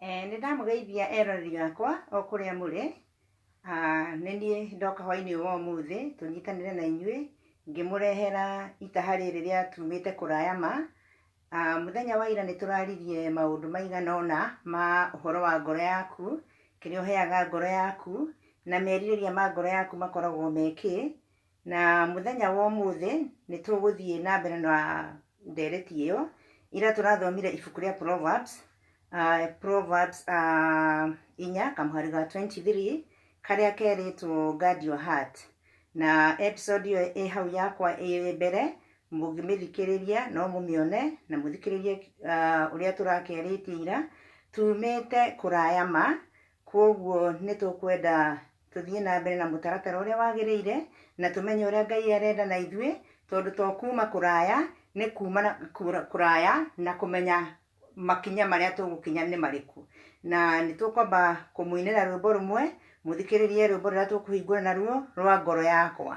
Eh, nĩ ndamũgeithia eroreri gakwa o kũrĩa mũrĩ Ah, nĩ niĩ ndoka hwainĩ wa ũmũthĩ tũnyitanĩre na inyuĩ ngĩmũrehera itaha rĩrĩ rĩa tumĩte kũraya ma Ah, mũthenya wa ira nĩ tũraririe maũndũ maigana ũna ma ũhoro wa ngoro yaku kĩrĩa ũheaga ngoro yaku na merirĩria ma ngoro yaku makoragwo mekĩ Na mũthenya wa ũmũthĩ nĩ tũgũthiĩ na mbere na ndereti ĩyo. Ira tũrathomire ibuku rĩa Proverbs, uh, Proverbs uh, inya kamũhari ga 23 karĩa kerĩtwo guard your heart. Na episode ĩyo ĩ hau yakwa ĩ mbere mũngĩmĩthikĩrĩria no mũmĩone na mũthikĩrĩrie uh, ũrĩa tũrakerĩtie ira tumĩte kũraya ma kwoguo nĩ tũkwenda tũthiĩ na mbere na mũtaratara ũrĩa wagĩrĩire na tũmenye ũrĩa Ngai arenda na ithuĩ tondũ to kuuma kũraya nĩ kuuma na- kũra- kũraya na kũmenya makinya marĩa tũgũkinya nĩ marĩkũ na nĩ tũkwamba kũmũinĩra rwĩmbo rũmwe mũthikĩrĩrie rwĩmbo rũrĩa tũkũhingũra naruo rwa ngoro yakwa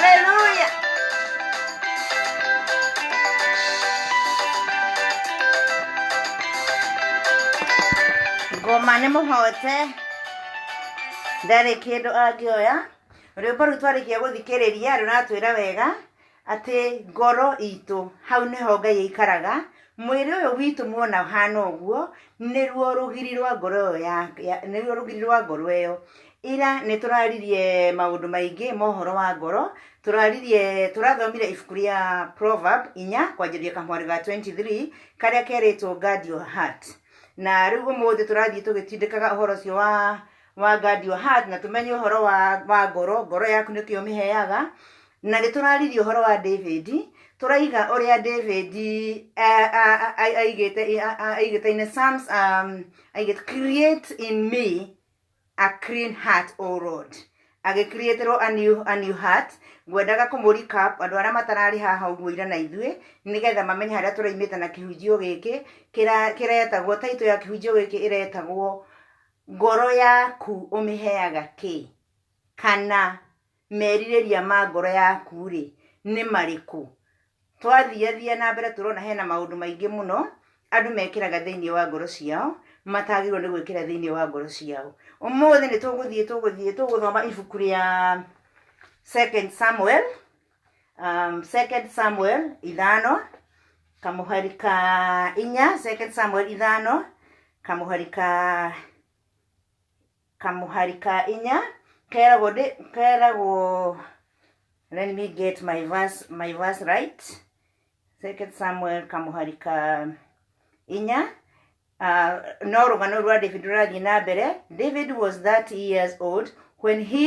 Haleluya. Ngoma nĩ mũhote ndarĩ kĩndũ angĩoya rwĩmbo rũu twarĩkia gũthikĩrĩria rũratwĩra wega Atĩ ngoro itũ, hau nĩho Ngai aikaraga, mwĩrĩ ũyũ witũ muona ũhana ũguo, nĩruo rũgiri rwa ngoro ĩyo ya, ya nĩruo rũgiri rwa ngoro ĩyo. Ira nĩtũraririe maũndũ maingĩ ma ũhoro wa ngoro, tũraririe, tũrathomire ibuku rĩa Proverb inya, kwanjĩrĩria kamwarĩ ga 23, karĩa kerĩtwo guard your heart. Na rĩu ũmũthĩ tũrathiĩ tũgĩtindĩkaga ũhoro ũcio wa wa guard your heart na tũmenye ũhoro wa, wa ngoro, ngoro yaku nĩkĩ ũmĩheaga, Na nĩ tũraririe ũhoro wa David, tũraiga ũrĩa David eh, a- a- a- aigĩte a- a- aigĩte in the Psalms, um, aigĩte create in me a clean heart o lord agĩkriĩtĩrwo a new, a new heart ngwendaga kũmũrika andũ arĩa matararĩ haha ũguo ira na ithuĩ nĩgetha mamenye harĩa tũraimĩte na kĩhunjio gĩkĩ kĩra- kĩretagwo taitũ ya kĩhunjio gĩkĩ ĩretagwo ngoro yaku ũmĩheaga kĩ kana merirĩria ma ngoro yaku-rĩ nĩ marĩkũ twathiathia na mbere tũrona hena maũndũ maingĩ mũno andũ mekĩraga thĩinĩ wa ngoro ciao matagĩrĩirwo nĩ gwĩkĩra thĩinĩ wa ngoro ciao ũmũthĩ nĩ tũgũthiĩ tũgũthiĩ tũgũthoma ibuku rĩa second samuel um, second samuel ithano kamũhari ka inya second samuel ithano kamũhari ka kamũhari ka inya keragwo ndĩ keragwo let me get my verse, my verse right second samuel kamũhari ka inya uh, no rũgano rwa david rũrathiĩ na mbere david was that years old when he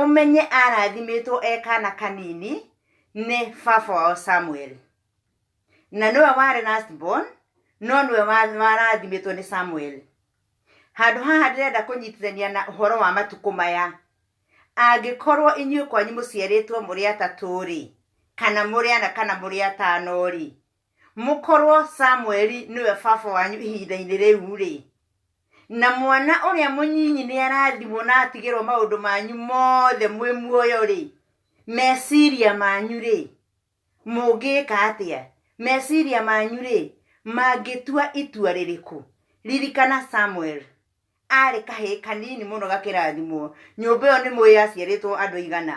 ũmenye arathimĩtwo e kana kanini nĩ baba wao samuel na nĩwe warĩ last born no nĩwe wa- warathimĩtwo nĩ samuel handũ haha ndĩrenda kũnyitithania na ũhoro wa matukũ maya angĩkorwo inyuĩ kwanyu mũciarĩtwo mũrĩ atatũ-rĩ kana mũrĩ ana kana mũrĩ atano-rĩ mũkorwo samueli nĩwe baba wanyu ihinda-inĩ rĩu-rĩ na mwana ũrĩa mũnyinyi nĩ arathimwo na atigĩrwo maũndũ manyu mothe mwĩ muoyo-rĩ meciria manyu-rĩ mũngĩka atĩa meciria manyu-rĩ mangĩtua itua rĩrĩkũ ririkana samuel arĩ kahĩĩ kanini mũno gakĩrathimwo nyũmba ĩyo nĩ mũĩ yaciarĩtwo andũ igana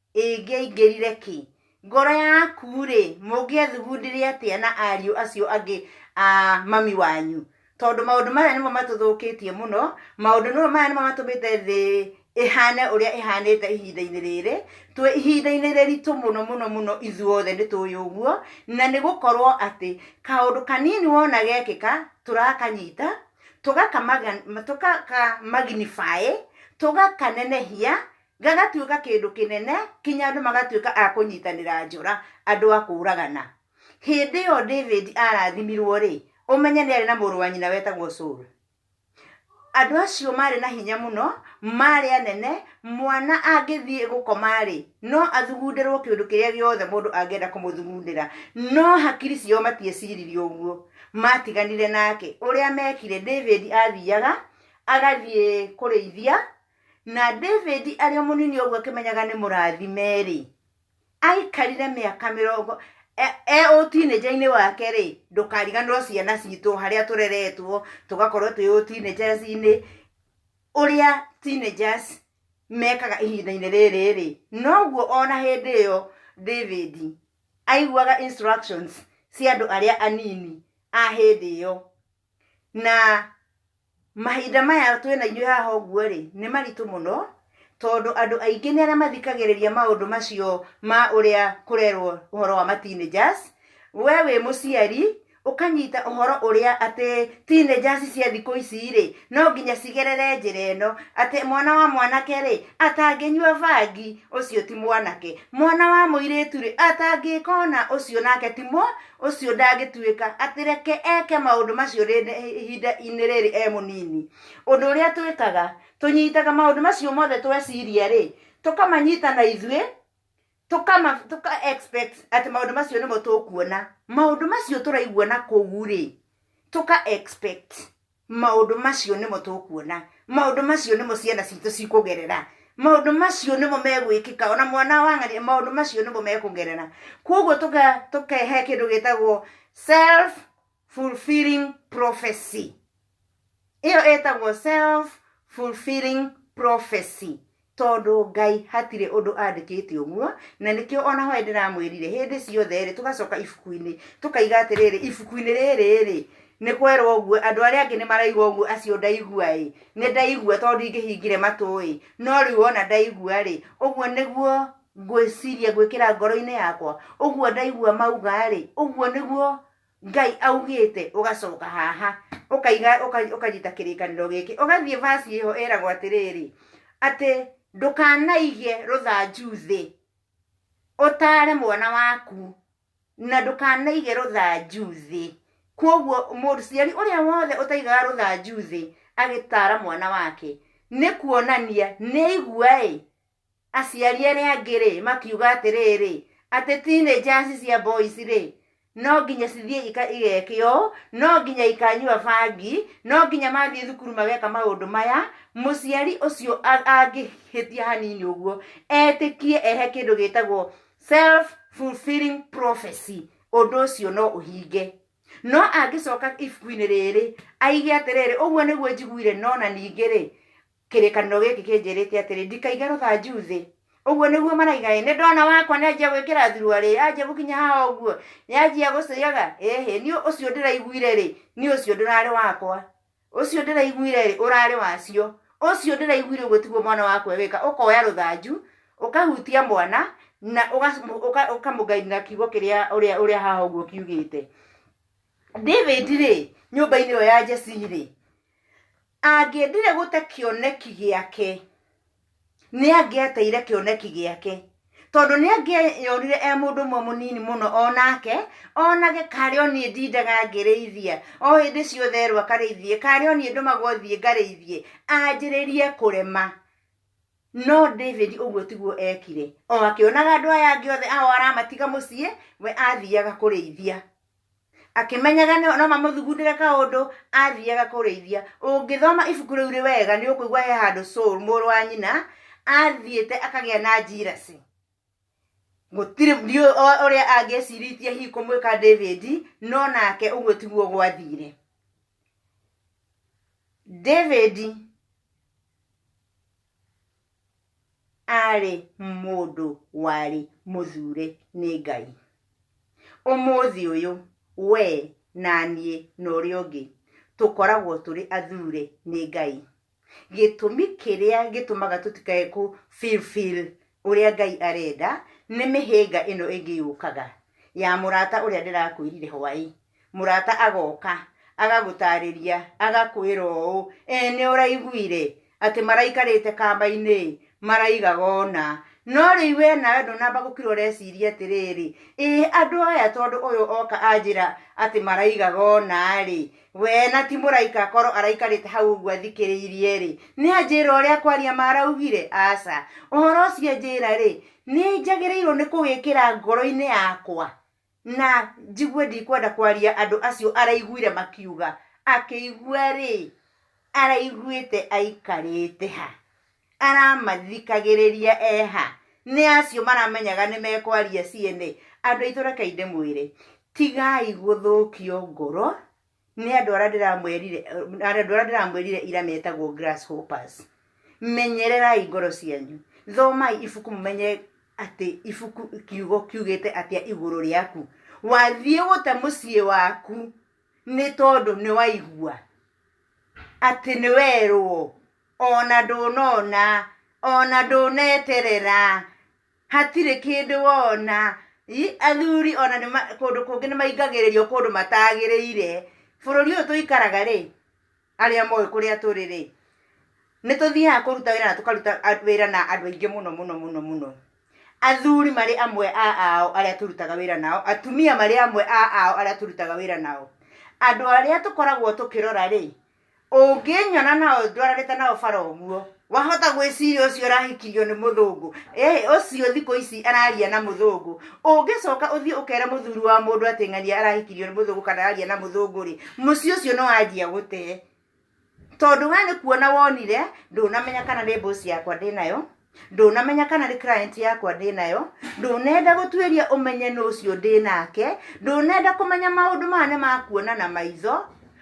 ĩngĩaingĩrire kĩ ngoro yaku-rĩ mũngĩathugundire atĩa na ariũ acio angĩ a mami wanyu tondũ maũndũ maya nĩmo matũthũkĩtie mũno maũndũ nĩmo maya nĩmo matũmĩte thĩ ĩhane ũrĩa ĩhanĩte ihinda-inĩ rĩrĩ twĩ ihinda-inĩ rĩritũ mũno mũno mũno ithuothe nĩ tũĩ ũguo na nĩ gũkorwo atĩ kaũndũ kanini wona gekĩka tũrakanyita tũgaka tũgaka magnify tũgakanenehia gagatuĩka kĩndũ kĩnene kinya andũ magatuĩka a kũnyitanĩra njora andũ a kũũragana hĩndĩ ĩyo david arathimirwo rĩ ũmenye nĩ arĩ na mũrũ wa nyina wetagwo saul andũ acio maarĩ na hinya mũno maarĩ anene mwana angĩthiĩ gũkoma rĩ no athugundĩrwo kĩũndũ kĩrĩa gĩothe mũndũ angĩenda kũmũthugundĩra no hakiri ciao matieciririe ũguo matiganire nake ũrĩa mekire david athiaga agathiĩ kũrĩithia na david arĩ o mũnini ũguo akĩmenyaga nĩ mũrathime-rĩ aikarire mĩaka mĩrongo e- e ũtinĩnja-inĩ wake-rĩ ndũkariganĩrwo ciana citũ harĩa tũreretwo tũgakorwo twĩ ũtinĩnjaci-inĩ ũrĩa teenagers mekaga ihinda-inĩ rĩrĩ-rĩ noguo ona hĩndĩ ĩyo david aiguaga instructions cia andũ arĩa anini a hĩndĩ ĩyo na mahinda maya twĩna inyuĩ haha ũguo rĩ nĩ maritũ mũno tondũ andũ aingĩ nĩ arĩa mathikagĩrĩria maũndũ macio ma ũrĩa kũrerwo ũhoro wa ma teenagers we wĩ mũciari ũkanyita ũhoro ũrĩa atĩ teenagers cia thikũ ici rĩ no nginya cigerere njĩra ĩno atĩ mwana wa mwanake rĩ atangĩnyua bangi ũcio ti mwanake mwana wa mũirĩtu rĩ atangĩka ũna ũcio nake ti mwa ũcio ndangĩtuĩka atĩ reke eke maũndũ macio rĩ- nĩ- ihinda-inĩ rĩrĩ e mũnini ũndũ ũrĩa twĩkaga tũnyitaga maũndũ macio mothe tweciria rĩ tũkamanyita na ithuĩ tũkama tũka expect atĩ maũndũ macio nĩmo tũkuona maũndũ macio tũraigua na kũu rĩ tũka expect Maũndũ macio nĩmo tũkuona, maũndũ macio nĩmo ciana citũ cikũgerera, maũndũ macio nĩmo megwĩkĩka, ona mwana wa ng'ania, maũndũ macio nĩmo mekũgerera. Kwoguo tũka- tũkehe kĩndũ gĩtagwo self fulfilling prophecy ĩyo ĩtagwo self fulfilling prophecy tondũ Ngai hatirĩ ũndũ andĩkĩte ũguo, na nĩkĩo ona hoe ndĩramwĩrire hĩndĩ ciothe-rĩ, tũgacoka ibuku-inĩ, tũkaiga atĩrĩrĩ, ibuku-inĩ rĩrĩ-rĩ, nĩ kwerwo ũguo, andũ arĩa angĩ nĩ maraigua ũguo, acio ndaigua-ĩ, nĩ ndaigua tondũ ndingĩhingire matũ-ĩ, no rĩu ona ndaigua-rĩ, ũguo nĩguo ngwĩciria, ngwĩkĩra ngoro-inĩ yakwa, ũguo ndaigua mauga-rĩ, ũguo nĩguo. ngai augĩte ũgacoka haha ũkaiga ũka- ũkanyita kĩrĩkanĩro gĩkĩ ũgathiĩ vasi ĩho ĩragwo atĩrĩrĩ atĩ ndũkanaige rũthanju thĩ ũtare mwana waku na ndũkanaige rũthanju thĩ kwoguo mũciari ũrĩa wothe ũtaigaga rũthanju thĩ agĩtara mwana wake nĩ kuonania nĩ igua ĩ Aciari arĩa angĩ-rĩ, makiuga atĩrĩrĩ, atĩ teenagers cia boys-rĩ, no nginya cithiĩ ika igekĩo, no nginya ikanyua bangi, no nginya mathiĩ thukuru mageka maũndũ maya, mũciari ũcio a- angĩhĩtia hanini ũguo, etĩkie ehe kĩndũ gĩtagwo self fulfilling prophecy, ũndũ ũcio no ũhinge. No angĩcoka ibuku-inĩ rĩrĩ, aige atĩrĩrĩ, ũguo nĩguo njiguire, no na ningĩ-rĩ, Kĩrĩkanĩro gĩkĩ kĩnjĩrĩte atĩrĩ, ndikaige rũthanju thĩ. Ũguo nĩguo maraiga ĩ, nĩ ndwana wakwa nĩ anjia gwĩkĩra thurua rĩ, yanjia gũkinya haha ũguo, nĩ anjia gũcĩaga, ĩhĩ, niĩ ũcio ndĩraiguire rĩ, niĩ ũcio ndũrarĩ wakwa. Ũcio ndĩraiguire rĩ, ũrarĩ wacio. Ũcio ndĩraiguire ũguo tiguo mwana wakwa ewĩka, ũkoya rũthanju, ũkahutia mwana, na ũkamũgainĩra kiugo kĩrĩa ũrĩa ũrĩa haha ũguo kiugĩte. David rĩ, nyũmba-inĩ ĩyo ya Jesse rĩ, angĩendire gũte kĩoneki gĩake nĩ angĩateire kĩoneki gĩake tondũ nĩ angĩeyonire e mũndũ ũmwe mũnini mũno o nake onage karĩ o niĩ ndindaga ngĩrĩithia o hĩndĩ ciothe erwo akarĩithie karĩ o niĩ ndũmagwo thiĩ ngarĩithie anjĩrĩrie kũrema no david ũguo tiguo ekire o akĩonaga andũ aya angĩ othe ao aramatiga mũciĩ we athiaga kũrĩithia akĩmenyaga no no mamũthugundĩre kaũndũ athiaga kũrĩithia ũngĩthoma ibuku rĩu rĩ wega nĩ ũkũigua he handũ soul mũrũ wa nyina athiĩte akagĩa na njirasi gũtirĩ ndiũĩ o- ũrĩa angĩciritie hihi kũmwĩka david no nake ũguo tiguo gwathire david arĩ mũndũ warĩ mũthure nĩ Ngai. Ũmũthĩ ũyũ we na niĩ na ũrĩa ũngĩ tũkoragwo tũrĩ athure nĩ Ngai. Gĩtũmi kĩrĩa gĩtũmaga tũtikae kũ fulfill ũrĩa Ngai arenda nĩ mĩhĩnga ĩno ĩngĩ yũkaga ya mũrata ũrĩa ndĩrakwĩrire hwaĩ mũrata agoka agagũtarĩria agakwĩra ũũ e nĩ ũraiguire atĩ maraikarĩte kamba-inĩ maraigaga ona no rĩu we nawe ndũnamba gũkira ũreciria atĩrĩrĩ ĩ andũ aya tondũ ũyũ oka anjĩra atĩ maraigaga ona rĩ we na ti mũraika korwo araikarĩte hau ũguo athikĩrĩirie rĩ nĩ anjĩra ũrĩa kwaria maraugire aca ũhoro ũcio anjĩra rĩ nĩ njagĩrĩirwo nĩ kũwĩkĩra ngoro-inĩ yakwa Na njigue ndikwenda kwaria andũ acio araiguire makiuga, akĩigua-rĩ, araiguĩte aikarĩte ha? Aramathikagĩrĩria e ha? Nĩ acio maramenyaga nĩ mekwaria ciene? Andũ aitũ rekei ndĩmwĩre, tigai gũthũkio ngoro nĩ andũ arĩa ndĩramwĩrire andũ arĩa ndĩramwĩrire ira metagwo grasshoppers menyererai ngoro cianyu thomai ibuku mũmenye atĩ ibuku kiugo kiugĩte atĩa igũrũ rĩaku wathiĩ gũte mũciĩ waku nĩ tondũ nĩ waigua atĩ nĩ werwo ona ndũnona ona ndũneterera hatirĩ kĩndũ wona Ĩ, athuri ona nĩ ma- kũndũ kũngĩ nĩ maingagĩrĩrio kũndũ matagĩrĩire bũrũri ũyũ tũikaraga rĩ arĩa moĩ kũrĩa tũrĩ rĩ nĩ tũthiaga kũruta wĩra na tũkaruta a- wĩra na andũ aingĩ mũno mũno mũno mũno athuri marĩ amwe a ao arĩa tũrutaga wĩra nao atumia marĩ amwe a ao arĩa tũrutaga wĩra nao andũ arĩa tũkoragwo tũkĩrora rĩ ũngĩnyona na ndwaranĩte na ũbara ũguo wahota gwĩciria ũcio ũrahikirio nĩ mũthũngũ ĩ ũcio thikũ ici araria na mũthũngũ ũngĩcoka ũthiĩ ũkere mũthuri wa mũndũ atĩ ng'ania arahikirio nĩ mũthũngũ kana araria na mũthũngũ rĩ mũciĩ ũcio nĩ wanjia gũtee tondũ we nĩ kuona wonire ndũnamenya kana nĩ mbũci yakwa ndĩnayo ndũnamenya kana nĩ client yakwa ndĩ nayo ndũnenda gũtuĩria ũmenye nũ ũcio ndĩ nake ndũnenda kũmenya maũndũ maya nĩ makuona na maitho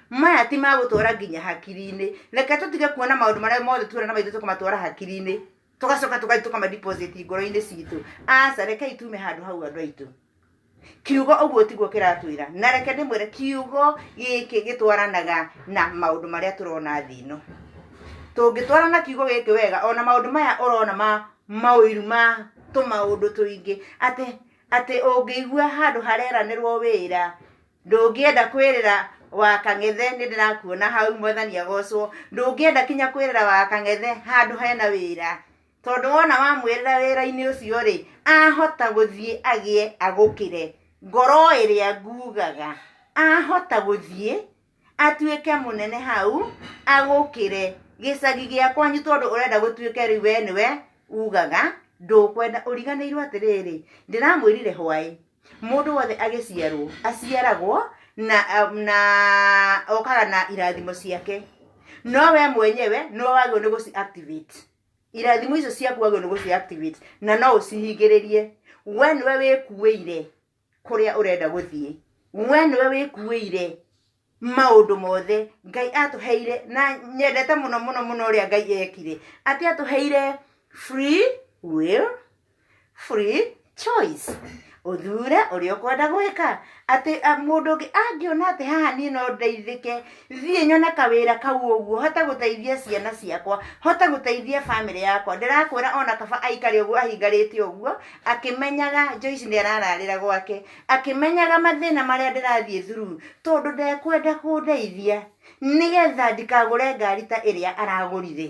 maya ti magũtwara nginya hakiri-inĩ reke tũtige kuona maũndũ marĩa mothe tuona na maitho tũkamatwara hakiri-inĩ tũgacoka tũgathiĩ tũkamadeposit ngoro-inĩ citũ aca rekei tume handũ hau andũ aitũ kiugo ũguo tiguo kĩratwĩra na reke ndĩmwĩre kiugo gĩkĩ gĩtwaranaga na maũndũ marĩa tũrona thĩ ĩno tũngĩtwara na kiugo gĩkĩ wega ona maũndũ maya ũrona ma maũiru ma tũmaũndũ tũingĩ atĩ atĩ ũngĩigua handũ hareranĩrwo wĩra ndũngĩenda kwĩrĩra wa kang'ethe nĩ ndĩrakuona hau mwathani agocwo ndũngĩenda kinya kwĩrĩra wa kang'ethe handũ hena wĩra Tondũ wona wamwĩrĩra wĩra-inĩ ũcio-rĩ, ahota gũthiĩ agĩe agũkĩre. Ngoro ĩrĩa ngugaga, ahota gũthiĩ atuĩke mũnene hau agũkĩre. Gĩcagi gĩa kwanyu tondũ ũrenda gũtuĩke rĩu we nĩwe ugaga ndũkwenda. Ũriganĩirwo atĩrĩrĩ, ndĩramwĩrire hwaĩ, mũndũ wothe agĩciarwo aciaragwo na na okaga na irathimo ciake. No we mwenyewe nĩwe wagĩrĩirwo nĩ gũci activate. irathimo icio ciaku wagĩrĩirwo nĩ gũciactivate na no ũcihingĩrĩrie we nĩwe wĩkuĩire kũrĩa ũrenda gũthiĩ we nĩwe wĩkuĩire maũndũ mothe ngai atũheire na nyendete mũno mũno mũno ũrĩa ngai ekire atĩ atũheire free will free choice ũthure ũrĩa ũkwenda gwĩka atĩ a, mũndũ ũngĩ angĩona atĩ haha niĩ no ndeithĩke thiĩ nyone kawĩra kau ũguo hote gũteithia ciana ciakwa hote gũteithia bamĩrĩ yakwa ndĩrakwĩra ona kaba aikare ũguo ahingarĩte ũguo akĩmenyaga Joyce nĩ arararĩra gwake akĩmenyaga mathĩna marĩa ndĩrathiĩ thuru tondũ ndekwenda kũndeithia nĩgetha ndikagũre ngari ta ĩrĩa aragũrire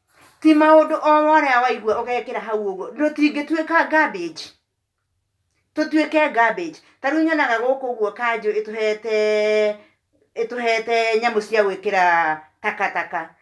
ti maundu o worea waigua ugekira hau uguo tutingituika garbage tutuike garbage ta riu nyonaga guku guo kanju ituhete ituhete nyamu cia gwikira takataka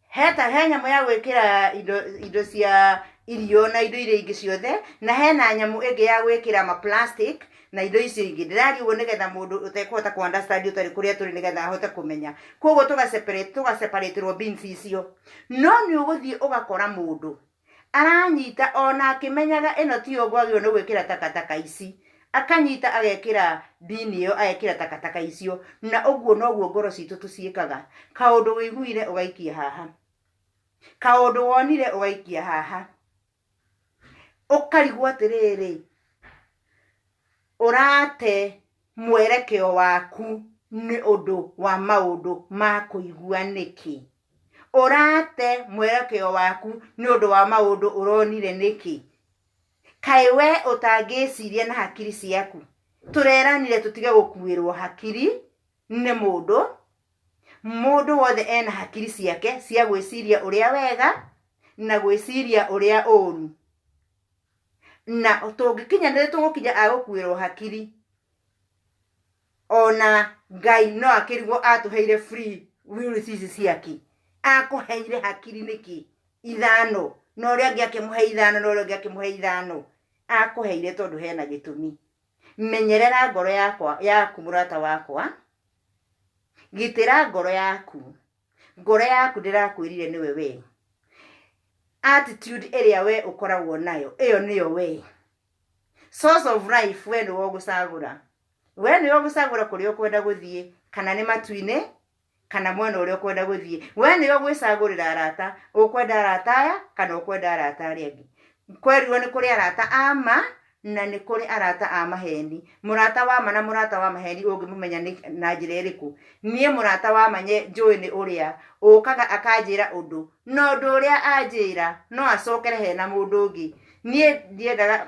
he ta he nyamu ya gwikira indo indo cia irio na indo iria ingi ciothe na hena nyamu ingi ya gwikira ma plastic na indo icio ingĩ ndĩraria ũguo nĩgetha mũndũ ũtekũhota kũ understand ũtarĩ kũrĩa tũrĩ nĩgetha ahote kũmenya koguo tũga separate tũga separaterwo beans icio no nĩ ũgũthiĩ ũgakora mũndũ aranyita ona akĩmenyaga ĩno ti ũguo agĩrĩirwo nĩ gwĩkĩra takataka ici akanyita agekĩra bini ĩyo agekĩra takataka icio na ũguo noguo ngoro citũ tũciĩkaga kaũndũ wĩiguire ũgaikia haha kaũndũ wonire ũgaikia haha ũkarigwo atĩrĩrĩ ũrate mwerekeo waku nĩ ũndũ wa maũndũ ma kũigua nĩkĩ ũrate mwerekeo waku nĩ ũndũ wa maũndũ ũronire nĩkĩ kaĩ we ũtangĩciria na hakiri ciaku tũreranire tũtige gũkuĩrwo hakiri nĩ mũndũ mũndũ wothe ena hakiri ciake cia gwĩciria ũrĩa wega na gwĩciria ũrĩa ũũru na tũngĩkinya nĩ tũgũkinya agũkuĩrwo hakiri ona ngai no akĩrigwo atũheire free will cici ciake akũheire hakiri nĩkĩ ithano na ũrĩa angĩ akĩmũhe ithano na ũrĩa ũngĩ akĩmũhe ithano akũheire tondũ hena gĩtũmi menyerera ngoro yakwa yaku mũrata wakwa gitĩra ngoro yaku ngoro yaku ndĩrakwĩrire nĩwe wee attitude ĩrĩa wee ũkoragwo nayo ĩyo nĩyo wee source of life wee nĩwe ũgũcagũra wee nĩwe ũgũcagũra kũrĩa ũkwenda gũthiĩ kana nĩ matu-inĩ kana mwena ũrĩa ũkwenda gũthiĩ we nĩwe gwĩcagũrĩra arata ũkwenda arata aya kana ũkwenda arata arĩa angĩ kwerirwo nĩ kũrĩ arata ama na nĩ kũrĩ arata a maheni mũrata wa ma na mũrata wa maheni ũngĩmũmenya nĩ na njĩra ĩrĩkũ niĩ mũrata wa ma nye- njũĩ nĩ ũrĩa ũkaga akanjĩra ũndũ na ũndũ ũrĩa anjĩra no acokere he na mũndũ ũngĩ niĩ ndiendaga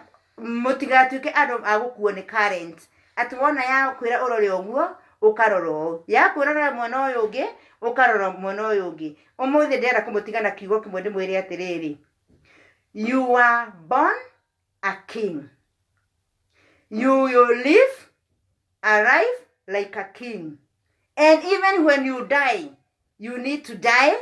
mũtigatuĩke andũ a gũkuo nĩ current atĩ wona ya kwĩra ũrore ũguo ũkarora ũũ ya kwĩra ũrore mwena ũyũ ũngĩ ũkarora mwena ũyũ ũngĩ ũmũthĩ ndĩrenda kũmũtiga na kiugo kĩmwe ndĩmwĩre atĩrĩrĩ you are born a king you will live a life like a king and even when you die you need to die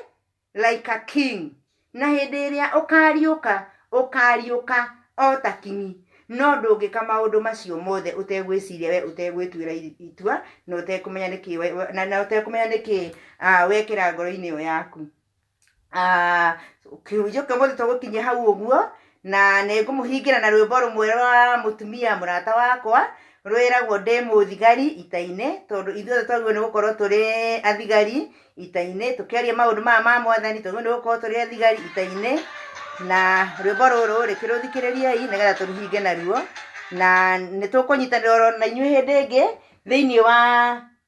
like a king na hĩndĩ ĩrĩa ũkariũka ũkariũka o ta kinyi no ndũngĩka maũndũ macio mothe ũtegwĩciria we ũtegwĩtuĩra i- itua na ũtekũmenya nĩkĩ we- we- na- na ũtekũmenya nĩkĩ ah, wekĩra ngoro-inĩ ĩyo yaku Ah, kĩhunjio kĩa mũthĩ tũgũkinyia hau ũguo na nĩ ngũmũhingĩra na rwĩmbo rũmwe rwa mũtumia mũrata wakwa rwĩragwo ndĩ mũthigari ita-inĩ tondũ ithuothe twagĩrĩirwo nĩ gũkorwo tũrĩ athigari ita-inĩ tũkĩaria maũndũ maya ma mwathani twagĩrĩirwo nĩ gũkorwo tũrĩ athigari ita-inĩ na rwĩmbo rũrũ rĩ kĩrũthikĩrĩriei nĩgetha tũrũhinge naruo na nĩ tũkũnyitanĩra oro na inyuĩ hĩndĩ ĩngĩ thĩinĩ wa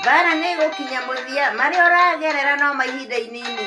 mbara nĩ ĩgũkinya mũthia marĩa ũragerera no ma ihinda inini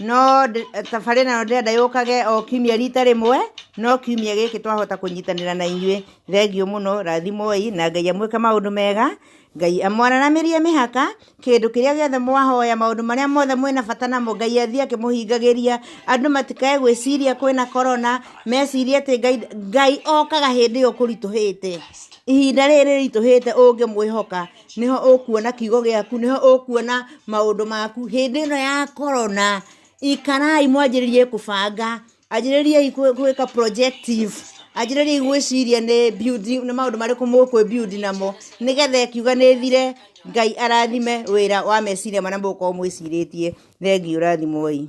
no tabarĩra ĩno ndĩrenda yũkage o kiumia rita rĩmwe no kiumia gĩkĩ twahota kũnyitanĩra na inyuĩ thengiũ mũno rathimoi na ngai amwĩke maũndũ mega ngai amwananamĩrie mĩhaka kĩndũ kĩrĩa gĩothe mwahoya maũndũ marĩa mothe mwĩna bata namo ngai athiĩ akĩmũhingagĩria andũ matikae gwĩciria kwĩna korona mecirie atĩ ngai, ngai okaga hĩndĩ ĩyo kũritũhĩte ihinda rĩrĩ rĩritũhĩte ũngĩmwĩhoka nĩho ũkuona kiugo gĩaku nĩho ũkuona maũndũ maku hĩndĩ ĩno ya korona ikarai mwanjĩrĩrie kũbanga anjĩrĩriei kwĩ- gwĩka projective anjĩrĩriei gwĩciria nĩ building nĩ maũndũ marĩkũ mũkwĩ build namo nĩgetha ĩkiuga nĩthire ngai arathime wĩra wa meciria marĩa mũgũkorwo mwĩcirĩtie thengiũ rathimoi